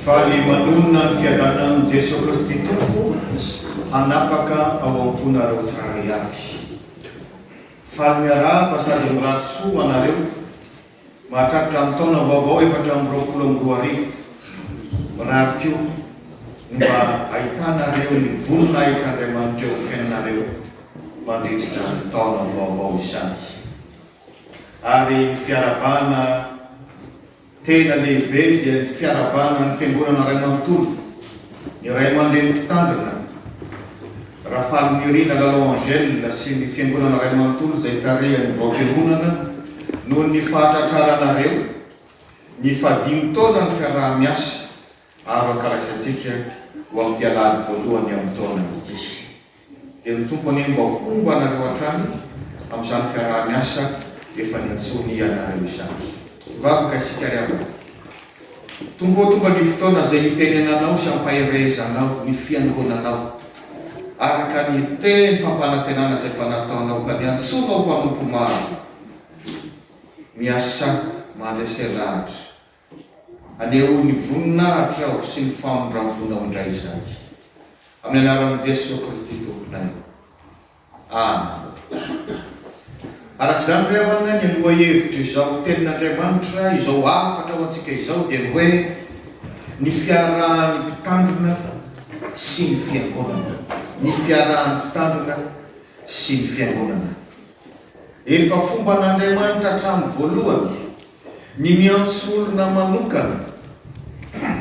Fa ny manonona ny fiadanan'i Jesoa Kristy Tompo hanapaka ao am-ponareo tsirairay avy. Faly miarahaba sady mirary soa ho anareo mahatratra ny taona vaovao efatra amby roapolo amby roa arivo. Mirary koa ny mba hahitanareo ny voninahitr'Andriamanitra eo am-piainanareo mandritra ny taona vaovao izany. Ary ny fiarahabana tena lehibe dia ny fiarahabana ny Fiangonana Ray Manontolo, ny Ray aman-dreny Mpitandrina, Rafahalinirina Lalao Angèle sy ny Fiangonana Ray Manontolo izay tarihan'ny Raompiononana noho ny fahatratraranareo ny fahadimy taonan'ny fiaraha-miasa avaka raisantsika ho amin'ity Alahady voalohany amin'ny taona ity. Dia ny Tompo anie mba homba anareo hatrany amin'izany fiaraha-miasa efa nintsoiny ianareo izany. Hivavaka isika ry havana. Tompo ô, tonga ny fotoana izay hitenenanao sy hampaherehezanao ny fiangonanao, araka ny teny fampanantenana izay efa nataonao ka niantsoanao mpanompo maro miasa mandresy lahatra. Hanehoa ny voninahitra Aho sy ny famindram-ponao indray izany. Amin'ny anaran'i Jesoa Kristy Tomponay. Amena. Araka izany ry havana, ny lohahevitr'izao Tenin'Andriamanitra, izao hafatra ho antsika izao dia ny hoe, Ny fiarahan'ny Mpitandrina sy ny Fiangonana. Ny fiarahan'ny Mpitandrina sy ny Fiangonana. Efa fomban'Andriamanitra hatramin'ny voalohany. Ny miantso olona manokana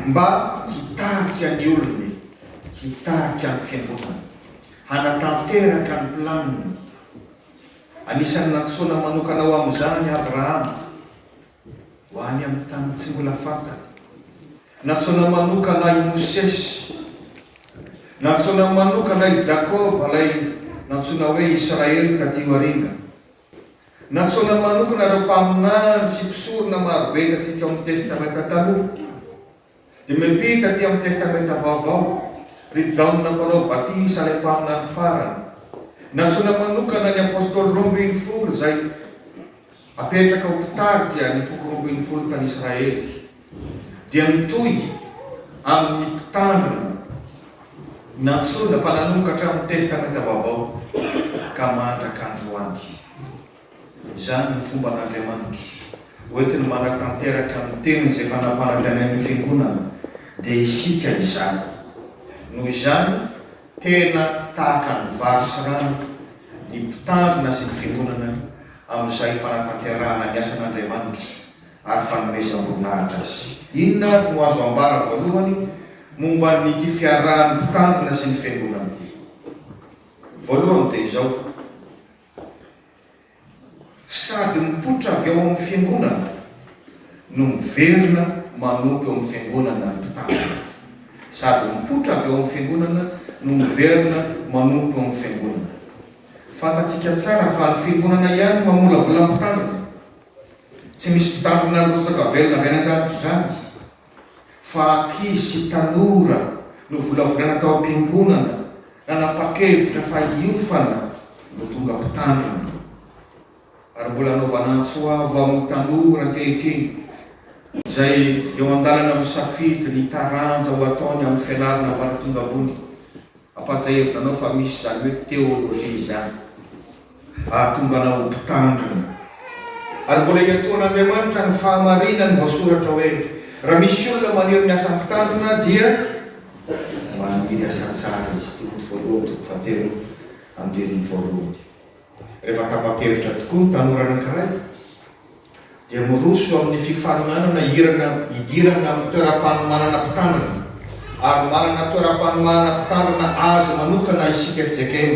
mba hitarika ny olony, hitarika ny fiangonana, hanatanteraka ny planiny. Anisan'ny nantsoina manokana ho amin'izany i Abrahama, ho any amin'ny tany tsy mbola fantany. Nantsoina manokana i Mosesy. Nantsoina manokana i Jakoba, ilay nantsoina hoe Israely taty aoriana, Nantsoina manokana ireo mpaminany sy mpisorona maro be hitantsika ao amin'ny Testamenta Taloha. Dia miampita aty amin'ny Testamenta Vaovao, ry Jaona Mpanao Batisa ilay mpaminany farany. Nantsoina manokana ny Apôstôly roa ambin'ny folo izay hapetraka ho mpitarika ny foko roa ambin'ny folo tany Israely. dia mitohy amin'ny mpitandrina nantsoina fa nanokatra amin'ny Testamenta Vaovao ka mandraka androany. Izany no fomban'Andriamanitra hoentiny manatanteraka ny teniny izay efa nampanantenain'ny Fiangonana, dia isika izany. Noho izany, tena tahaka ny vary sy rano ny mpitandrina sy ny Fiangonana amin'izay fanatanterahana ny asan'Andriamanitra ary fanomezam-boninahitra azy. Inona ary no azo ambara voalohany momba an'ity fiarahan'ny mpitandrina sy ny fiangonana ity? Voalohany dia izao, Sady mipoitra avy ao amin'ny fiangonana no miverina manompo eo amin'ny fiangonana ny mpitandrina. Sady mipoitra avy ao amin'ny fiangonana no miverina manompo eo amin'ny fiangonana. Fantatsika tsara fa ny fiangonana ihany mamolavola ny mpitandrina. Tsy misy mpitandrina ny rotsaka velona avy any an-danitra izany, fa ankizy sy tanora novolavolaina tao am-piangonana nanapa-kevitra fa hiofana no tonga mpitandrina. Ary mbola anaovana antso avo amin'ny tanora ankehitriny izay eo an-dalana misafidy ny taranja ho ataony amin'ny fianarana ambaratonga ambony Ampahatsiahivina anao fa misy izany hoe théologie izany hahatonga anao ho mpitandrina. Ary mbola iatoan'Andriamanitra ny fahamarinan'ny voasoratra hoe, Raha misy olona maniry ny asa mpitandrina dia maniry asa tsara izy, Timoty voalohany toko fahatelo andininy voalohany. Rehefa tapa-kevitra tokoa ny tanora anankiray, dia miroso amin'ny fifaninanana hirana hidirana amin'ny toeram-panomanana mpitandrina, ary manana toeram-panomanana mpitandrina azy manokana isika fjkm.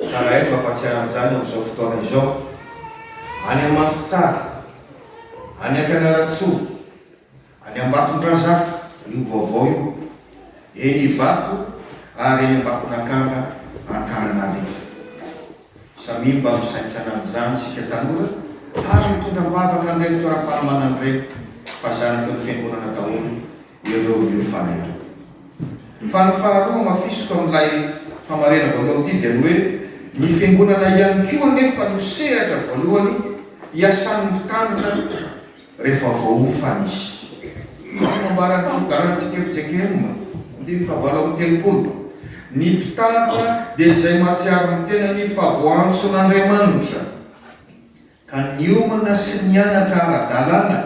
Tsara eto hampatsiahy an'izany amin'izao fotoana izao. Any Amandritsara, any Fianarantsoa, Any Ambatondrazaka io vaovao io, eny Ivato ary eny Ambakonakanga Antananarivo. Samia mba misaintsana an'izany isika tanora ary mitondra am-bavaka an'ireny fitoeram-panomanana ireny fa zanaky ny fiangonana daholo ireo miofana ireo. Fa ny faharoa hamafisiko amin'ilay hamarena voalohany ity dia ny hoe ny fiangonana ihany koa anefa no sehatra voalohany iasan'ny mpitandrina rehefa voaofany izy. Izao no nambaran'ny fifidianana tsikefotsiekerina andininy fahavalo amby telopolo, Ny mpitarika dia izay mahatsiaro ny tenany fa voaantson'Andriamanitra, ka niomana sy nianatra ara-dalàna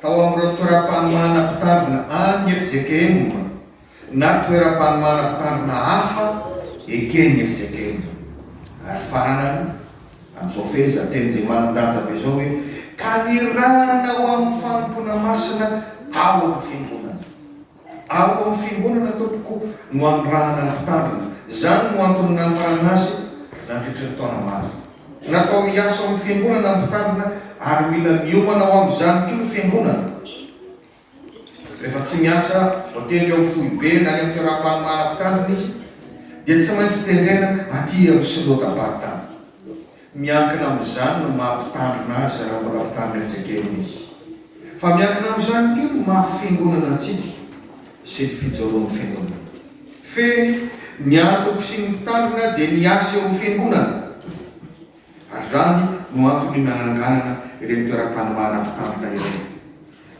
tao amin'ireo toeram-panomahana mpitandrina any FJKM, na toeram-panomana mpitandrina hafa eken'ny FJKM. Ary fananany, amin'izao fehezanteny izay manan-danja be izao hoe, ka nirahana ho amin'ny fanompoana masina ao amin'ny Fiangonana. Ao amin'ny Fiangonana, tompoko, no anirahana ny mpitandrina. Izany no antony nanafarana azy nandritry ny taona maro. Natao hiasa ao amin'ny Fiangonana ny mpitandrina ary mila miomana ho amin'izany koa ny Fiangonana. Rehefa tsy miasa voatery eo amin'ny foibe na any amin'ny toeram-panomana mpitandrina izy dia tsy maintsy tendrena aty amin'ny Synoda-paritany. Miankina amin'izany ny maha mpitandrina azy raha mbola mpitandrina efijekeriny izy. Fa miankina amin'izany koa ny maha fiangonana antsika sy ny fijoroan'ny fiangonana. Fehiny, ny antoko sy ny mpitandrina dia ny asa eo amin'ny fiangonana. ary izany no antony nananganana ireny toeram-panomahana mpitambika ireny.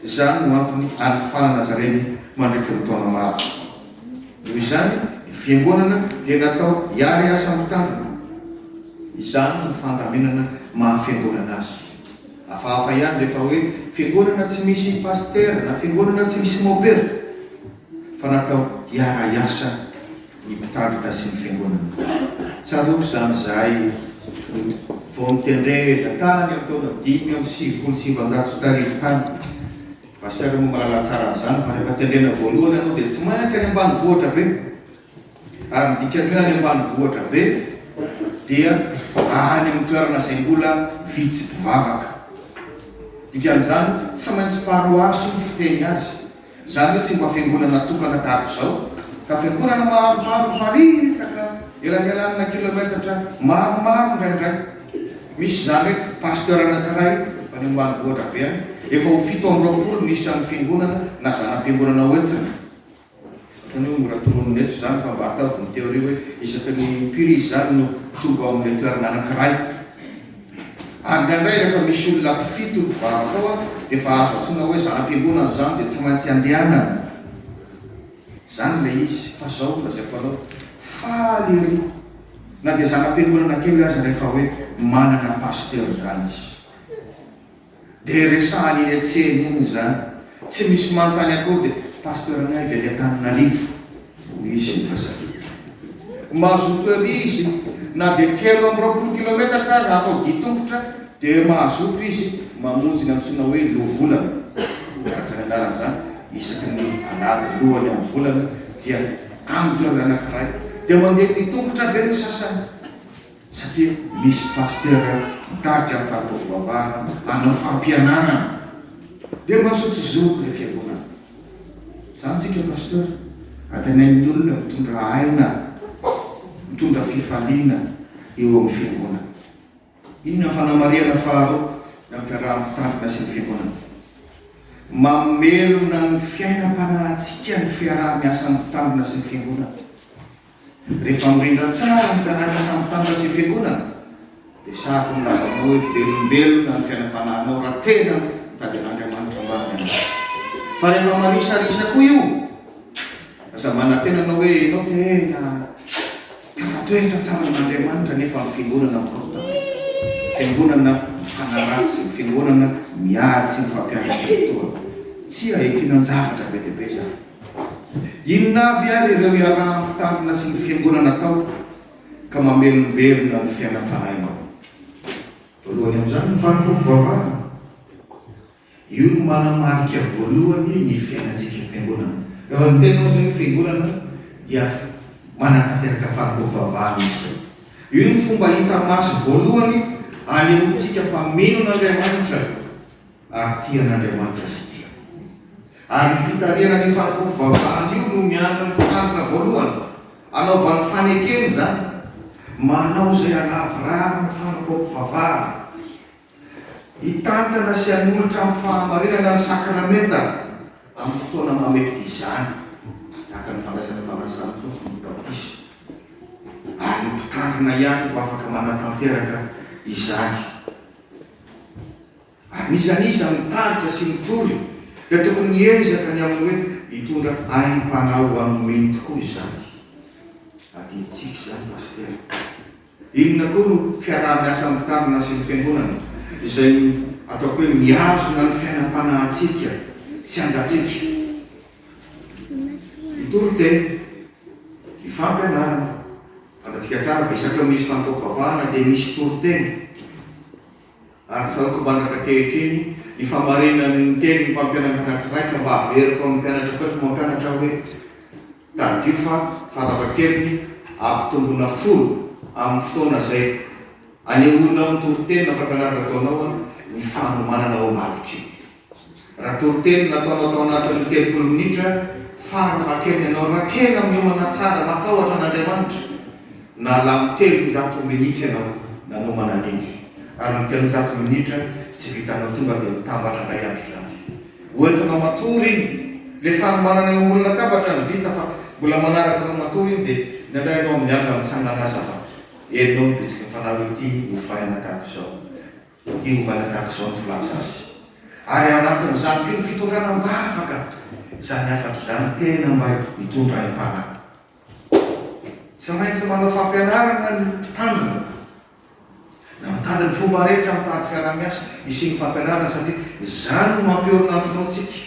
Izany no antony anofahana zareny mandritry ny taona maro. Noho izany, ny fiangonana dia natao hiari-asa mitandrina. Izany no fandaminana maha fiangonana azy. Hafahafa ihany rehefa hoe fiangonana tsy misy pasitera na fiangonana tsy misy mopera, fa natao hiara-hiasa. ny mpitandrina sy ny fiangonana. Tsaroako izany izahay vao nitendrena tany amin'ny taona dimy amby sivifolo sy sivinjato sy tarivo tany. Pasteur moa mahalala tsara an'izany fa rehefa tendrena voalohany ianao dia tsy maintsy any ambanivohitra be. Ary ny dikan'ny hoe any ambanivohitra be dia any amin'ny toerana izay mbola vitsy mpivavaka. Dikan'izany tsy maintsy paroasy no fiteny azy. Izany hoe tsy mba fiangonana tokana tahaka izao, fa fiangonana maromaro miparitaka elanelanina kilometatra maromaro indraindray. Misy izany hoe pasteur anankiray any ambanivohitra be any, efa ho fito amby roapolo ny isan'ny fiangonana na zana-piangonana hoentina. Ohatran'ny hoe mora tononina eto izany, fa mba ataovy ny théorie hoe isaky ny impiry izy izany no tonga ao amin'ilay toerana anankiray. Ary indraindray rehefa misy olona mpifito mpivavaka ao dia efa azo antsoina hoe zana-piangonana izany dia tsy maintsy andehanana izany ilay izy fa izao no lazaiko anao, faly ery na dia zana-piangonana kely aza rehefa hoe manana pasitera izany izy. Dia resahany iny antsena iny izany. Tsy misy manontany akory dia Pasteur Naivo any Antananarivo no izy indray satria mahazo hotera izy na dia telo amby roapolo kilometatra aza atao dia tongotra dia mahazoto izy mamonjy ny antsoina hoe loholana araka ny anarany izany isaky ny alahady lohany amin'ny volana dia amin'ny toerana anankiray dia mandeha dia tongotra be ny sasany satria misy pasteur mitarika ny fahatao fivavahana hanao fampianarana dia mazotozoto ilay fiangonana izany tsika pasteur antenainy ny olona mitondra aina mitondra fifaliana eo amin'ny fiangonana inona ny fanamarihana faharoa ny amin'ny fiaraha-mpitarina sy ny fiangonana mamelona ny fiainam-panahintsika ny fiaraha-miasan'ny mpitarina sy ny fiangonana Rehefa mirindra tsara ny fianarana samy tanora sy fiangonana dia sahako milaza aminao hoe velombelona ny fiainam-panahinao raha tena mitady an'Andriamanitra ambany ianao. Fa rehefa marisarisa koa io, aza manantena anao hoe ianao tena tafatoetra tsara amin'Andriamanitra nefa ny fiangonana mikorontana, ny fiangonana mifanaratsy, ny fiangonana miady sy mifampiandry ny fotoana. Tsia, e, kinan-javatra be dia be izany. Inona avy ary ireo iaraha-mpitandrina sy ny Fiangonana atao ka mamelombelona ny fiainam-panahinao? Voalohany amin'izany ny fanompoam pivavahana. Io no manamarika voalohany ny fiainantsika. Fiangonana. Rehefa miteny ianao izay hoe Fiangonana dia manatanteraka fanompoam pivavahana izy izay. Io no fomba hita maso voalohany anehoantsika fa mino an'Andriamanitra ary tia an'Andriamanitra izy ity. Ary io fitarihana an'io fanompoana fivavahana io no miandry ny mpitandrina voalohany hanaovany fanekena izany, manao izay halavorary ny fanompoam-pivavahana, hitantana sy hanolotra amin'ny fahamarinana ny sakramenta amin'ny fotoana mamety izany, tahaka ny fandraisana fanasan'ny Tompo ny batisa. Ary ny mpitandrina ihany no afaka manatanteraka izany. Anisan'iza mitarika sy mitory dia tokony hiezaka ny amin'ny hoe hitondra aim-panahy ho an'ny mino tokoa izany. Adinontsika izany Pasitera. Inona koa no fiaraha-miasa amin'ny tanana sy ny Fiangonana izay ataoko hoe mihazona ny fiainam-panahintsika tsy angantsika? Ny toriteny, ny fampianarana. Fantatsika tsara fa isaky ny misy fanompoam-pivavahana dia misy toriteny. ary tsaroako mandraka ankehitriny ny famarinan'ny niteny ny mpampianatra anankiray ka mba averiko amin'ny mpianatra koa ny mpampianatra aho hoe, Tadidio fa farafahakeliny ampitomboina folo amin'ny fotoana izay anehoanao ny toriteny na fampianarana ataonao ny fanomanana ao ambadik'io. Raha toriteny nataonao tao anatin'ny telopolo minitra farany vakeno ianao, raha tena miomana tsara, matahotra an'Andriamanitra, nalany telonjato minitra ianao nanomana an'iny, ary ny telonjato minitra tsy vitanao tonga dia mitambatra indray androdaty. Ho entinao matory iny. Ilay fanomanana eo ambony latabatra no vita fa mbola manaraka anao matory iny dia indraindray ianao miala mitsangana aza fa henonao ny bitsiky ny Fanahy hoe ity ovaina tahaka izao. Dia te hovana tahaka izao ny filaza azy. Ary ao anatin'izany koa ny fitondrana mba afaka izany hafatra izany tena mba hitondra aim-panahy. Tsy maintsy manao fampianarana ny mpitandrina na mitady ny fomba rehetra mitady fiaraha-miasa hisian'ny fampianarana satria izany no mampiorina ny finoantsika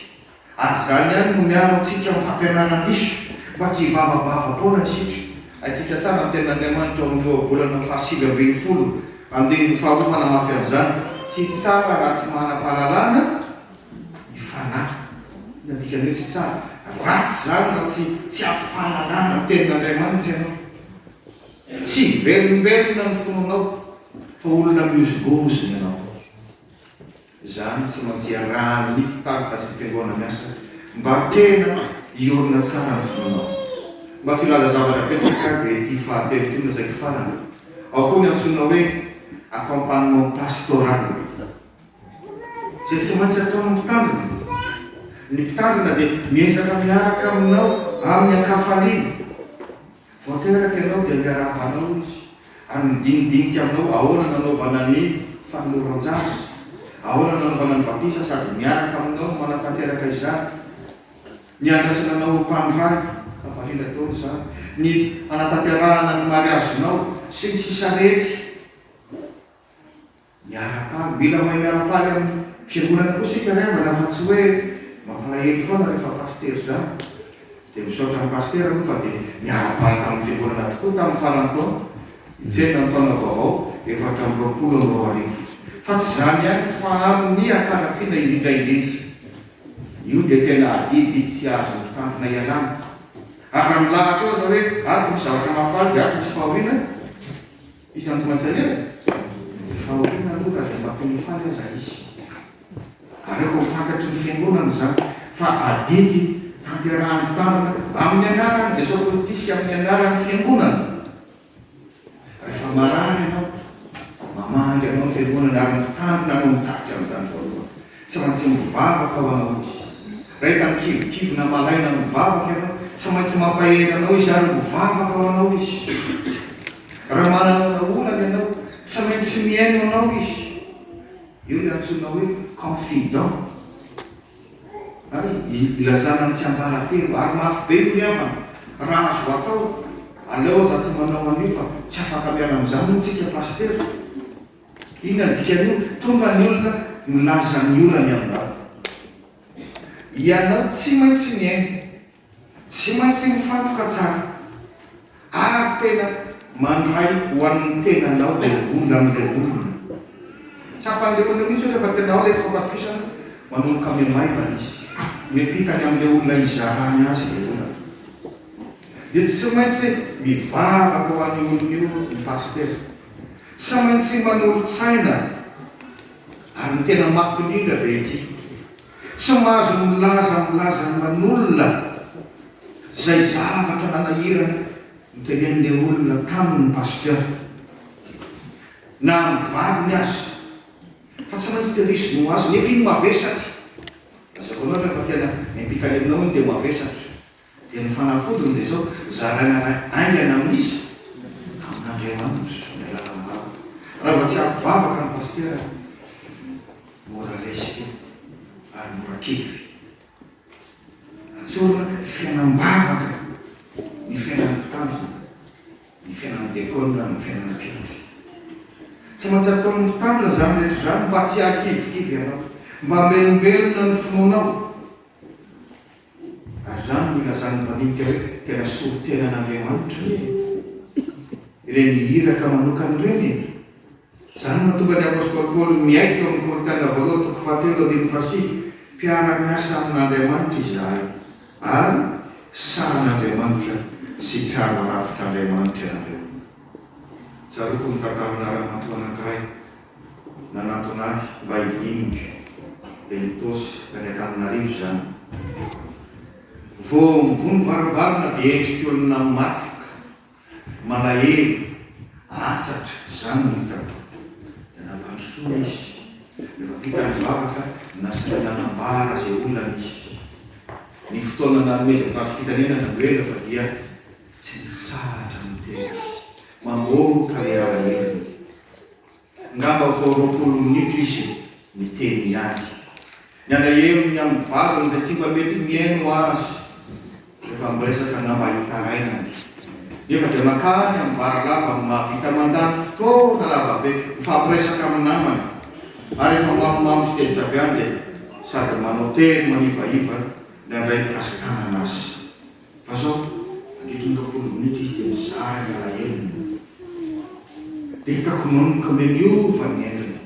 Ary izany ihany no miaro antsika amin'ny fampianarana diso, mba tsy hivavabava foana isika. Haintsika tsara ny Tenin'Andriamanitra ao amin'ny Ohabolana fahasivy ambin'ny folo, andininy faharoa manamafy an'izany. Tsy tsara raha tsy manam-pahalalana ny fanahy. Inona no dikan'ny hoe tsy tsara? Ratsy izany raha tsy tsy ampy fahalalana ny Tenin'Andriamanitra ianao. Tsy velombelona ny fonao fa olona mihozongozona ianao. Izany tsy maintsy arahan' ny mpitandro azy ny fiangoana miasa mba tena hiorina tsara ny fonao. Mba tsy hilaza zavatra betsaka dia ity fahatelo ity no zaiky farany, ao koa ny antsoina hoe accompagnement pastoral izay tsy maintsy ataon' ny mpitandrina. Ny mpitandrina dia miezaka miaraka aminao amin' ny ankafaliana Vao teraka ianao dia miarahaba anao izy ary midinidinika aminao ahoana nanaovana ny fanoloran-jaza, ahoana nanaovana ny batisa sady miaraka aminao manatanteraka izany ny handraisana anao ho mpanoray, ka valiana daholo izany, ny hanatanterahana ny mariazinao sy ny sisa rehetra. Miara-paly, mila mahay miara-faly amin'ny fiangonana koa isika ry havana fa tsy hoe mampalahelo foana rehefa pasitera izany. Dia misaotra an'i pasitera aloha fa dia niara-paly tamin'ny fiangonana tokoa tamin'ny faran'ny taona, nitsenina ny taona vaovao efatra amby roapolo amby roa arivo. Fa tsy izany ihany fa amin'ny hakaratsiana indrindra indrindra. Io dia tena adidy tsy azon'ny mpitandrina ialana. Ary raha milahatra eo aza hoe ato misy zavatra mahafaly dia ato misy fahoriana, Isan'ny tsy maintsy aleha ny fahoriana aloha raha dia mba te hifaly aza izy. Aleoko ho fantatry ny fiangonana izany fa adidy tanterahany mpitandrina amin'ny anaran'i Jesoa Kristy sy amin'ny anaran'ny fiangonana. Rehefa marary ianao, mamaha angainao ny fiangonana ary ny mpitandrina no mitarika amin'izany voalohany. Tsy maintsy mivavaka aho anarody Ray tamin-kivikivina malaina mivavaka ianao Tsy maintsy mampahery anao izy ary mivavaka ho anao izy Raha manana vahaolana ianao Tsy maintsy mihaino anao izy Eo ilay antsoina hoe confident Hay ilazana ny tsy ambara-telo Ary mafy be ny havana Raha azo atao Aleo aza tsy manao an'io fa Tsy afaka miala amin'izany moa tsika Pasitera Inona ny dikan'io? Tonga ny olona, milaza ny olany amin'ny bata. Ianao tsy maintsy mihaino, tsy maintsy mifantoka tsara, ary tena mandray ho an'ny tenanao ilay olona amin'ilay olona. Tsapan'ilay olona mihitsy ohatra fa tena ao ilay fampatokisana, manomboka mihamaivan izy, miampita any amin'ilay olona hizarany azy ilay olana. Dia tsy maintsy mivavaka ho an'io olona io ny pasitera. Tsy maintsy manolo-tsaina ary ny tena mafy indrindra dia ity, tsy mahazo milaza ny lazan'ny manolona izay zavatra nanahirana notenenin'ilay olona taminy ny Pasteur na amin'ny vadiny aza fa tsy maintsy tehiriziny ho azy nefa iny mavesatra, lazaiko anao rehefa tena miampita ny aminao iny dia mavesatra. Dia ny fanafodiny dia izao, zaraina iray haingana amin'iza? Amin'Andriamanitra ny lalam-bavaka. Raha vao tsy ampy vavaka ny pasitera, mora resy io ary mora kivy. Atsorina ny fiainam-bavaka, ny fiainan'ny mpitandrina, ny fiainan'ny dekona, ny fiainan'ny mpiandry. Tsy maintsy ataon'ny mpitandrina izany rehetra izany mba tsy hahakivikivy anao, mba hamelombelona ny finoanao. Ary izany no ilazan'ny mpandinika hoe tena solontena an'Andriamanitra ve ireny iraka manokana ireny e? Izany no mahatonga ny apostoly Paoly miaiky eo amin'ny Korintiana voalohany toko fahatelo andininy fahasivy, Mpiara-miasa amin'Andriamanitra izahay, ary sahan'Andriamanitra sy trano arafitr'Andriamanitra ianareo. Tsaroako ny tantaranà ramatoa anankiray Nanantona ahy mba hivinika dia nitosy tany Antananarivo izany. Vao mivoha ny varavarana dia endriky olona matroka, malahelo, atsatra izany no hitako. Dia nampandrosoina izy. Rehefa vita ny vavaka, nasainy nanambara izay olana izy. Ny fotoana nanomezako azy fitenenana no ela fa dia tsy nitsahatra niteny izy. Mamoaka ilay alahelony. Ngamba vao roapolo minitra izy niteny ny azy. Ny alahelo ny amin'ny vadiny izay tsy mba mety mihaino azy rehefa miresaka ngamba hitarainany. Nefa dia makany amin'ny bar lava no mahavita mandany fotoana lavabe mifampiresaka amin'ny namany. Ary rehefa mamomamo sy tezitra avy any dia sady manao tery manivaiva ny handray ny kasi-tanana azy. Fa sao mandritry ny roapolo minitra izy dia mizara ny alahelony. Betako manomboka mileova ny endriny,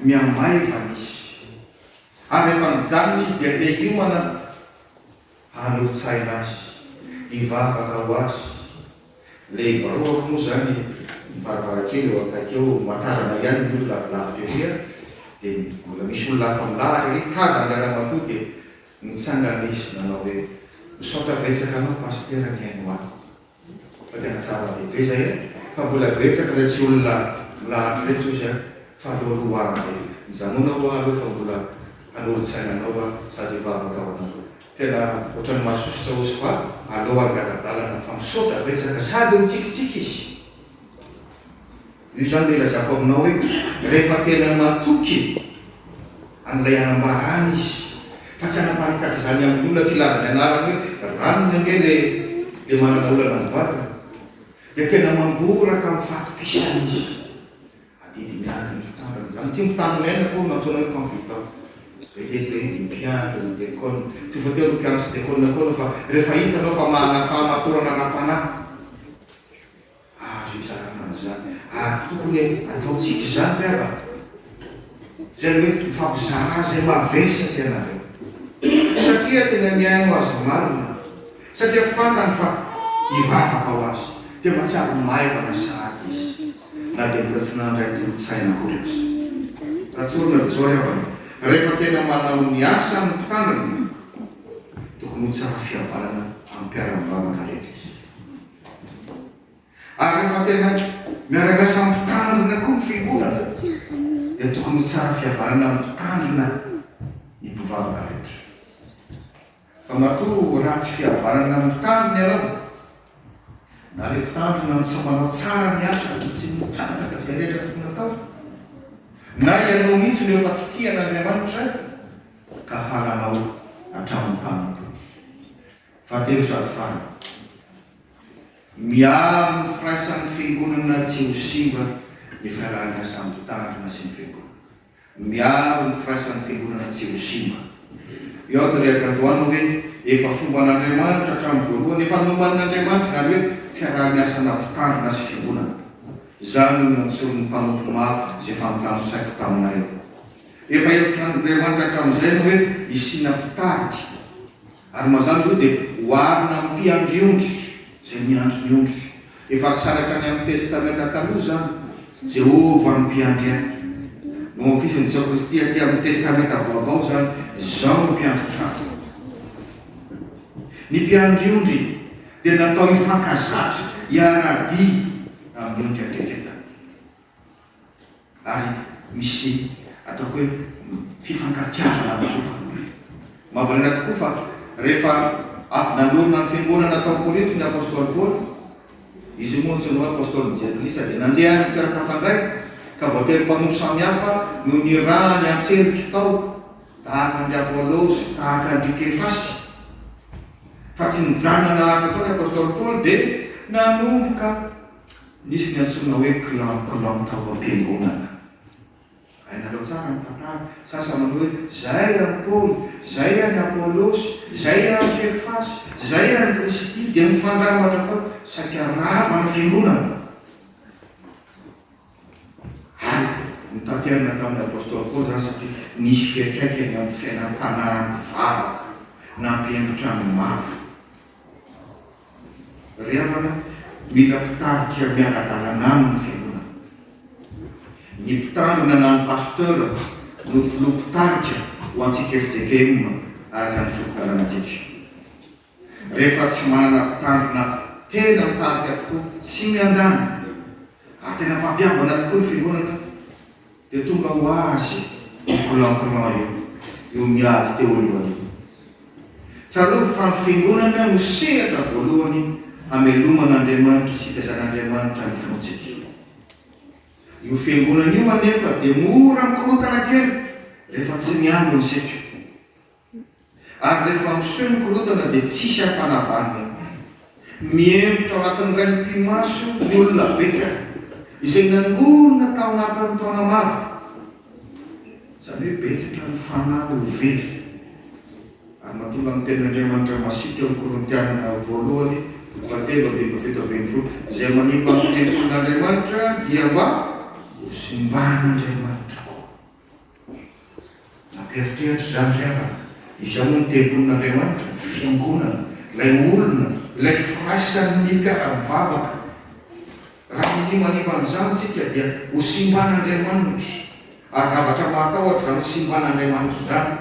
mihamaiva ny izy. Ary rehefa mijanona izy dia te hiomana aho. Halontsaina azy, hivavaka ho azy. Le biraoako moa izany ny varavarankely eo akaiky eo, mahatazana ihany ny olona avy lavitra ery an, dia mbola misy olona hafa milahatra ery, tazany ilay ramatoa dia. Nitsanga le izy nanao hoe, misaotra betsaka anao Pasitera nihaino ahy. Fa tena zava-dehibe zay a! Fa mbola betsaka retsy olona milahatra retsy ozy a! Fa aleo aloha ho avy e! Mijanona oa aleo fa mbola hanolo-tsaina anao aho sady hivavaka ho anareo. Tena otrany masosotra ozy fa aleo hangala-dalana fa misaotra betsaka sady mitsikitsiky izy. Io izany no ilazako aminao hoe rehefa tena natoky an'ilay hanambarany izy fa tsy hanaparitaka izany amin'ny olona tsy hilaza ny anarany hoe ranony ange le dia manana olana amin'ny vadiny dia tena mangoraka amin'ny fahatokisany izy. Adidy miandry ny mpitandrina izany. Tsy mpitandrina ihany akory no antsoina hoe confident. Vetivety hoe ny mpiandry ny dekona. Tsy voatery ho mpiandry sy dekona koa anao fa rehefa hitanao fa manana fahamatorana ara-panahy. Azo izarana izany ary tokony ataontsika izany ry havana. Izay hoe mifampizara izay mavesatra ianareo. Satria tena mihaino azy marina. Satria fantany fa hivavaka ho azy. Dia mahatsiaro maivana sahady izy na dia mbola tsy nandray tolon-tsaina akory aza. Raha tsorina dia izao ry havana, rehefa tena manao ny asany ny mpitandrina, tokony ho tsara fihavanana amin'ny mpiara-mivavaka rehetra izy. Ary rehefa tena miaraka samy mpitandrina koa ny fiangonana dia tokony ho tsara fihavanana amin'ny mpitandrina ny mpivavaka rehetra. Fa matoa ratsy fihavanana amin'ny mpitandrina ianao, na ilay mpitandrina no tsy manao tsara ny asany sy mitrandraka izay rehetra tokony hatao, na ianao mihitsy no efa tsy tia an'Andriamanitra ka halanao hatramin'ny mpanompo. Fahatelo sady farany, miaro ny firaisan'ny Fiangonana tsy ho simba ny fiaraha-miasa mitandrina sy ny Fiangonana. Miaro ny firaisan'ny Fiangonana tsy ho simba. Io aho dia rehaka andohana hoe efa fomba an'Andriamanitra hatramin'ny voalohany, efa nomanin'Andriamanitra izany hoe fiaraha-miasana mpitandrina sy Fiangonana. Izany no nantsoin'ny mpanompo maro izay efa nitanjosaiko taminareo. Efa hevitr'Andriamanitra hatramin'izay ny hoe hisiana mpitarika. Ary mazàna izy io dia oharina amin'ny mpiandry ondry izay miandry ny ondry. Efa akisary hatrany amin'ny Testamenta Taloha izany. Jehovah no Mpiandry ahy. Noho ny fisin'i Jesoa Kristy atỳ amin'ny Testamenta Vaovao izany, izao no Mpiandry tsara. Ny mpiandry ondry dia natao hifankazatra, hiara-dia amin'ny ondry an-dReketany. ary misy ataoko hoe fifankatiavana manokana. Mahavariana tokoa fa rehefa avy nanorina ny fiangonana tao Korinto ny apostoly Paoly, izy moa antsoina hoe apostolin'ny jentilisa, dia nandeha any toerana hafa indray ka voatery mpanompo samihafa no nirahany an-tselika tao, tahaka an-dry Apolosy, tahaka an-dry Kefasy. Fa tsy nijanona naharitra tao ny apostoly Paoly dia nanomboka. Nisy ny antsoina hoe clan clan tao am-piangonana. Hainareo tsara ny tantara. Sasany manao hoe, Izay an'i Paoly, izay an'i Apolosy, izay an'i Kefasy, izay an'i Kristy, dia mifangaro mandrakao. Saika rava ny fiangonana. Ary notanterina tamin'ny apostoly Paoly izany satria nisy fiantraikany amin'ny fiainam-panahy nivavaka, nampihemotra ny maro. Ry havana, mila mpitarika miara-dalana aminy ny fiangonana. Ny mpitandrina na ny pasteur no filoha mpitarika ho antsika fjkm araka ny fotodalanatsika. Rehefa tsy manana mpitandrina tena mitarika tokoa, tsy miandany, ary tena mpampihavana tokoa ny fiangonana, Dia tonga ho azy io plan plan io, io miady teo alohany io. Tsarovy fa ny fiangonana no sehatra voalohany hamelomana Andriamanitra sy hitaizan'Andriamanitra ny finoantsika. Io fiangonana io anefa dia mora mikorotana kely rehefa tsy miambina isika. Ary rehefa miseho ny korontana dia tsisy ampanavanina. Mihemotra ao anatin'ny raim-pimaso ny olona betsaka izay nangonina tao anatin'ny taona maro. Izany hoe betsaka ny fanahy ho very. Ary matoa lany tenin' Andriamanitra masiaka ny Korintiana voalohany toko fahatelo andininy fahafito ambin'ny folo, izay manimba ny tempolin' Andriamanitra dia mba ho simban' Andriamanitra koa. Nampieritreritra izany ry havana. Izao moa ny tempolin'Andriamanitra, ny fiangonana, ilay olona, ilay firaisan'ny mpiara-mivavaka. Raha manimanima an'izany isika dia ho simban'Andriamanitra. Ary zavatra mahatahotra izany ho simban'Andriamanitra izany.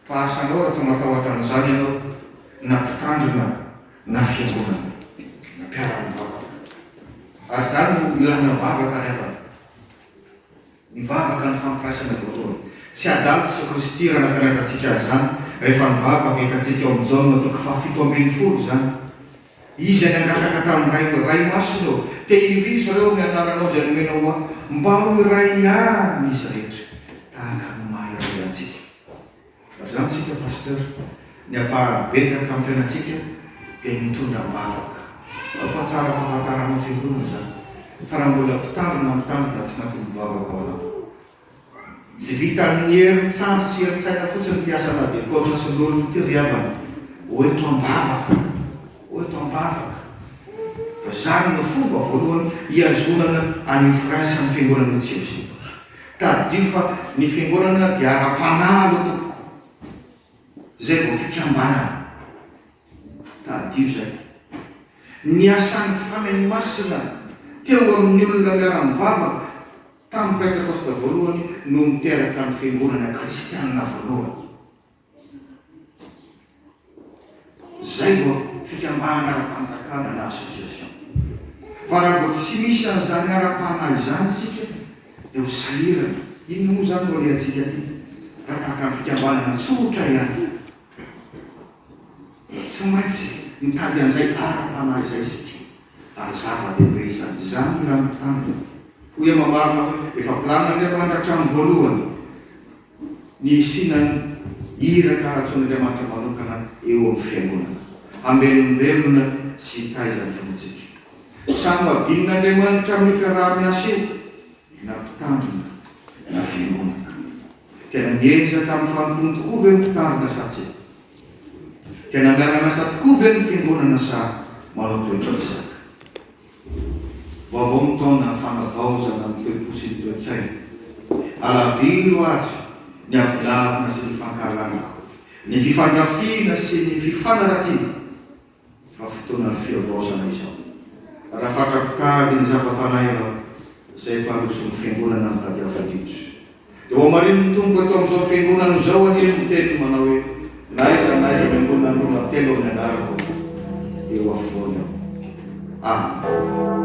Fa asanao raha tsy matahotra an'izany ianao, na mpitandrina, na fiangonana, na mpiara-mivavaka. Ary izany no ilana vavaka ry havana. Nivavaka ny fampiraisana voatory. Tsy adala Jesoa Kristy raha nampianatra antsika azy izany, rehefa nivavaka hitantsika ao amin'ny Jaona toko fahafito ambin'ny folo izany. Izy any hangataka tamin'ny Ray hoe, Ray Masina ô, tehirizo ireo amin'ny anaranao izay nomenao ho ahy, mba ho iray ihany izy rehetra, tahaka ny maha iray antsika. Mazàna isika Pasteur, ny ampahany betsaka amin'ny fiainantsika dia ny mitondra am-bavaka. Aoka tsara ampahafantaranao fiangonana izany, fa raha mbola mpitandro na mitandrina tsy maintsy mivavaka ao anatiny. Tsy vitan'ny herin-tsandry sy herin-tsaina fotsiny ity asana dekona sy lolona ity ry havana o, eto am-bavaka o, eto am-bavaka. Fa izany no fomba voalohany hiazonana an'io firaisan'ny fiangonan'io tsy eo izay. Tadidio fa ny fiangonana dia ara-panahy aloha tompoko, izay vao fikambanana. Tadidio izay. Ny asan'ny Fanahy Masina teo amin'ny olona miara-mivavaka tamin'ny Pentekosta voalohany no niteraka ny fiangonana kristianina voalohany. Izay vao fikambanana ara-panjakana na association. Fa raha vao tsy misy an'izany ara-panahy izany isika dia ho sahirana. Inona moa izany no alehantsika aty raha tahaka ny fikambanana tsotra ihany? Tsy maintsy mitady an'izay ara-panahy izay isika ary zava-dehibe izany. Izany no ilàn'ny mpitandrina. Hoy Hemamarina hoe, Efa planin'Andriamanitra hatramin'ny voalohany. Ny hisiana ny iraka antsoin'Andriamanitra manokana eo amin'ny fiangonana, hambelombelona sy hitaiza ny finoantsika. Samy babin'Andriamanitra amin'io fiaraha-miasa io na mpitandrina na fiangonana. Tena miezaka amin'ny fanompoany tokoa ve ny mpitandrina sa tsia? Tena miara-miasa tokoa ve ny fiangonana sa manao toetra tsy zaka? Vaovao ny taona, fanavaozana ny toe-po sy ny toe-tsaina. Alaviro ary ny avilavina sy ny fankahalana, ny fifandrafiana sy ny fifanaratsiana fa fotoana fihavaozana izao. Raha fatra-pitady ny zava-panahy ianao, izay mpandroso ny Fiangonana no tadiavo indrindra. Dia hohamarinin'ny Tompo eto amin'izao fiangonana izao anie ny teniny manao hoe, Na aiza na aiza miangonana ny roa na telo amin'ny anarako, dia eo afovoany aho. Amena.